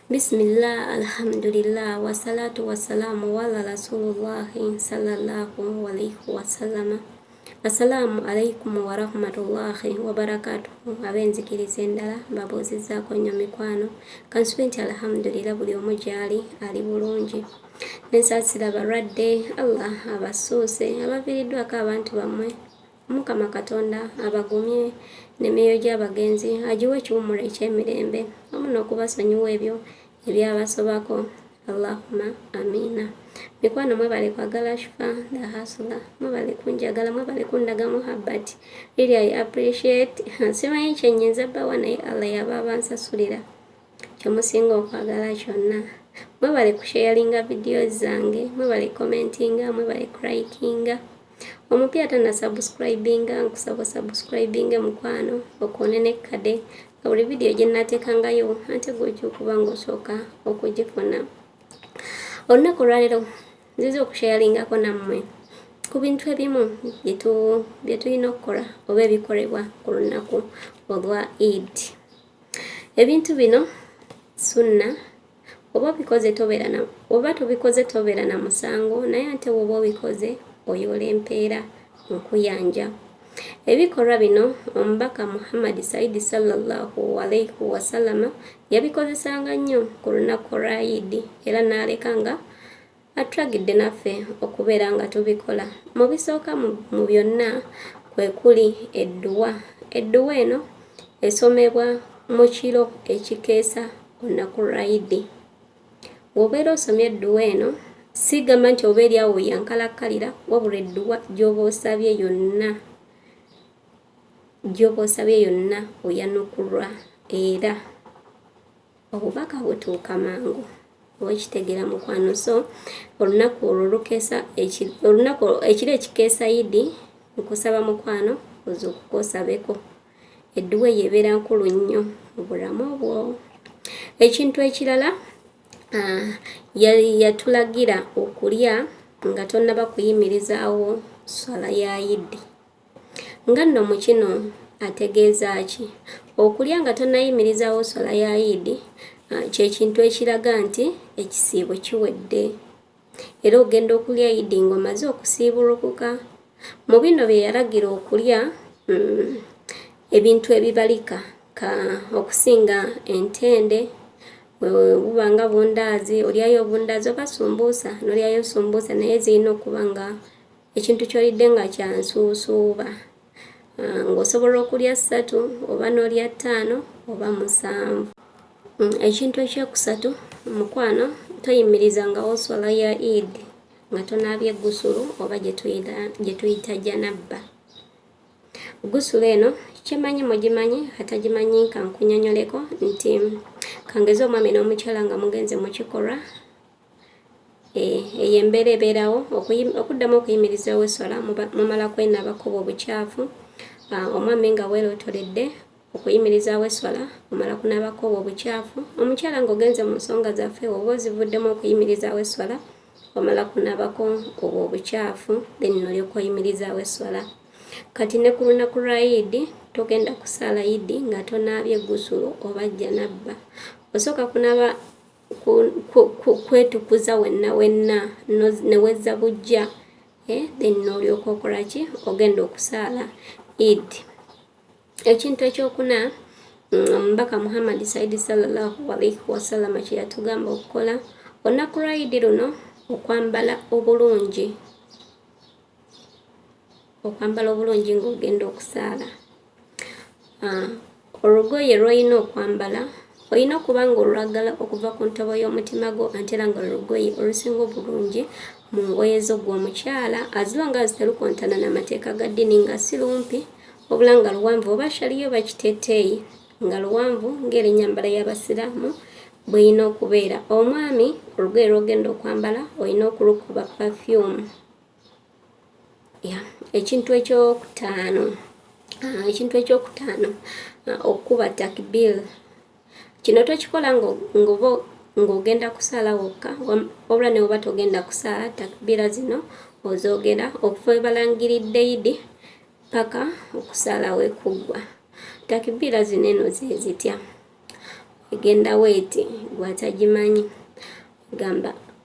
Bismillah, alhamdulillah, wassalatu wassalamu wala rasulullahi sallallahu alaihi wasallama. Assalamu alaikum warahmatullahi wabarakatuhu. Abenzikiriza endala mbabuuzizzaako nnyo mikwano kansubi nti alhamdulillah buli omu gyali ali bulungi. nensasira abalwadde allah abasuuse abaviiriddwako abantu bammwe omukama katonda abagumye nemyoyo gy'abagenzi agiwa ekiwummulo ekyemirembe wamu n'okubasonyiwa ebyo ebyabasobako allahuma amiina mikwano mwebale kwagala shufa the hasula mwebale kunjagala mwebale kundaga muhabbati really i appreciate simanyi kyenyinza bawa naye allah yaba abansasulira kyemusinga okwagala kyonna mwebale kusharinga vidiyo zange mwebale commentinga mwebale crikinga omupya tana subscribinga nkusaba subscribinge mukwano okoone nekkade nga buli vidiyo gyenateekangayo ante gwojja okuba ngaosooka okugifuna olunaku olwalero nziza okusharingako nammwe ku bintu ebimu bye tulina okukola oba ebikolebwa ku lunaku olwa idi ebintu bino sunna oba obikoze tobeera na oba tobikoze tobeera na musango naye ate woba obikoze oyoola empeera nkuyanja ebikolwa bino omubaka muhammadi saidi sallallahu alaihi wasalama yabikozesanga nnyo ku lunaku lwa idi era n'aleka nga Atulagidde naffe okubeera nga tubikola. Mu bisooka mu byonna kwe kuli edduwa. Edduwa eno esomebwa mu kiro ekikeesa olunaku lwa Idi. Bw'obeera osomye edduwa eno, sigamba nti oba eri awo yankalakkalira wabula edduwa gy'oba osabye yonna gy'oba osabye yonna oyanukulwa era obubaka butuuka mangu owekitegera mukwano so olunaku olwo lukesa olunaku ekiro ekikeesa idi nkusaba mukwano oza okukosabeko edduwa eyo ebeera nkulu nnyo mu bulamu obwo ekintu ekirala ah, yatulagira okulya nga tonaba kuyimirizaawo swala ya idi Nga nno mu kino ategeeza ki? Okulya nga tonnayimirizaawo swala ya Idi ah, kye kintu ekiraga nti ekisiibo kiwedde era ogenda okulya Idi ng'omaze okusiibulukuka. Mu bino bye yalagira okulya mm, ebintu ebibalika ka okusinga entende buba nga bundaazi olyayo obundaazi oba sumbuusa nolyayo sumbuusa naye zirina okuba nga ekintu kyolidde nga kyansuusuuba ah, ng'osobola okulya ssatu oba n'olya ttaano oba musanvu mm, ekintu ekyokusatu mukwano toyimiriza nga oswala ya id nga tonaabye gusulu oba gye tuyita janabba gusulu eno kyemanyi mugimanyi atagimanyi nkankunyonyoleko nti kangeze omwami n'omukyala nga mugenze mu kikolwa Eh, eyo embeera ebeerawo okuddamu okuyimirizawo eswala mumala kwenaaba kuba obukyafu ah, omwami nga weelotoledde okuyimirizaawo eswala omala kunaabako obwo obukyafu omukyala ng'ogenze mu nsonga zaffe oba ozivuddemu okuyimirizaawo eswala omala kunaabako obwo obukyafu then nolyoka oyimirizaawo eswala kati ne ku lunaku lwa idi togenda kusaala idi nga tonaabye gusulo oba jjanabba osooka kunaaba kwetukuza wenna wenna ne wezza bujja eh, then n'olyoka okola ki ogenda okusaala id ekintu ekyokuna mm, omubaka muhammadi saidi salallahu alaihi wasalama kye yatugamba okukola olunaku lwa idi luno okwambala obulungi okwambala obulungi ng'ogenda okusaala Ah, olugoye lw'olina okwambala olina okuba nga olwagala okuva ku ntobo y'omutima gwo ate era nga lwelugoye olusinga obulungi mu ngoye zo gwe omukyala azilo nga ziterukontana n'amateeka ga ddini nga si lumpi wabula nga luwanvu oba shaliyo oba kiteteeyi nga luwanvu ng'eri nyambala y'abasiraamu bweyina okubeera omwami olugoye lwogenda okwambala olina okulukuba pafyumu ya ekintu ekyokutaano ah, ekintu ekyokutaano ah, okukuba takbir kino tokikola ngoba ng'ogenda kusaala wokka wabula ne oba togenda kusaala takbira zino ozoogera okuva ebalangiridde idi paka okusaala wekuggwa takbira zino eno zezitya egenda weeti gwatagimanyi gamba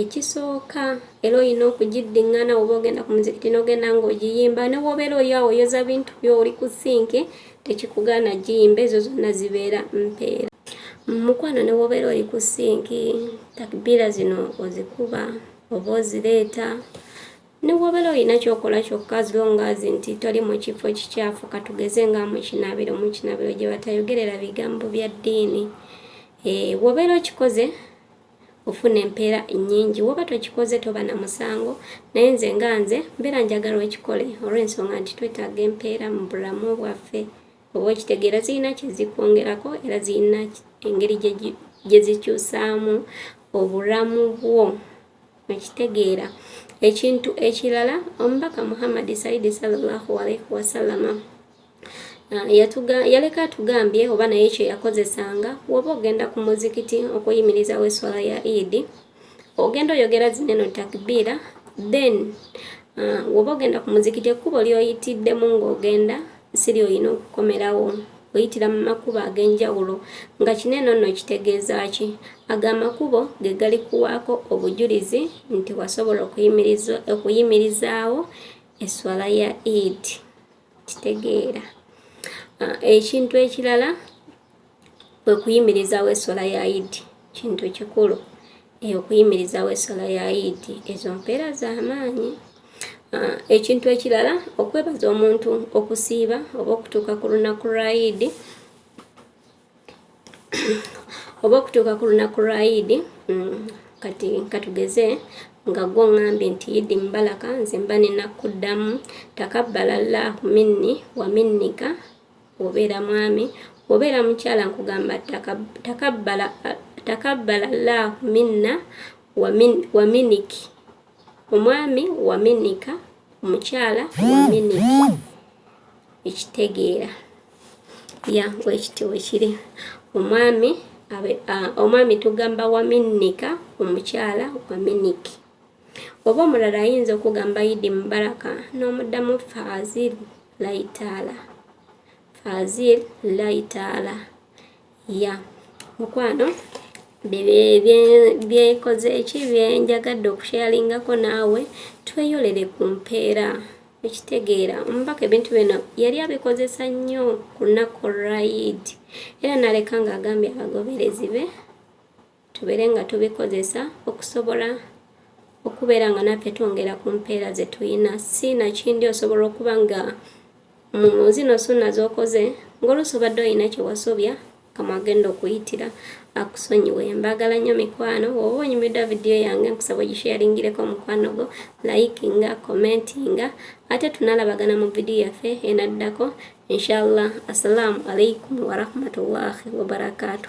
ekisooka era olina okugiddiŋŋana oba ogenda ku muzikiti n'ogenda ng'ogiyimba ne wobeera oli awo oyoza bintu byo oli ku sinki tekikugaana giyimba ezo zonna zibeera mpeera mukwano ne wobeera oli ku sinki takbiira zino ozikuba oba ozireeta Newobera olina kyokola kyokka as long as nti toli mu kifo kikyafu katugeze nga mu kinabiro mu kinabiro gye batayogerera bigambo bya ddiini eh, wobeera okikoze ofuna empeera nnyingi woba tokikoze toba na musango naye nze nga nze mbeera njagala okikole olw'ensonga nti twetaaga empeera mu bulamu bwaffe oba okitegeera zirina kyezikwongerako era zirina engeri gye zikyusaamu obulamu bwo Okitegeera. Ekintu ekirala omubaka Muhammad Saidi sallallahu alaihi wasallama yaleka atugambye oba naye kyeyakozesanga woba ogenda ku muzikiti okuyimirizawo eswala ya idi ogenda oyogera zineno takbiira then woba ogenda ku muzikiti ekkubo lyoyitiddemu ng'ogenda si lyolina okukomerawo oyitira mu makubo ag'enjawulo nga kino eno nno kitegeeza ki ago amakubo ge gali kuwaako obujulizi nti wasobola okuyimirizaawo esswala ya eid kitegeera ah, ekintu ekirala kwe kuyimirizaawo esswala ya eid Kintu kikulu eh, okuyimirizawo essala ya idi ezo mpeera za maanyi. Ah, ekintu ekirala okwebaza omuntu okusiiba oba okutuuka ku lunaku lwa idi oba okutuuka ku lunaku lwa idi mm, kati katugeze nga gwo ngambye nti idi mbalaka nze mba ninakuddamu takabbala llahu minni wa minnika Obeera mwami, obeera mukyala nkugamba takabbala takabbala llahu minna waminiki omwami waminika omukyala waminiki ekitegeera ya wekiti wekiri omwami omwami tugamba waminnika omukyala waminiki oba omulala ayinza okugamba yidi mubaraka n'omuddamu faaziri laitaala fazil laitaala ya mukwano byekoze eki byenjagadde okusheyaringako naawe tweyolere ku mpeera ekitegeera omubaka ebintu bino yali abikozesa nnyo ku lunaku olwayidi era naleka ng'agambye abagoberezi be Tubeere nga tubikozesa okusobola okubeera nga naffe twongera ku mpeera ze tulina. Si nakindi osobola okuba nga mu zino sunna z'okoze ng'oluusi obadde olina kye wasobya kama agenda okuyitira akusonyiwe mbagala nnyo mikwano oba onyumidwa vidiyo yange nkusaba ogisharingireko mukwano gwo likinga commentinga ate tunalabagana mu vidiyo yaffe enaddako inshallah assalamu alaikum warahmatullahi wabarakatuh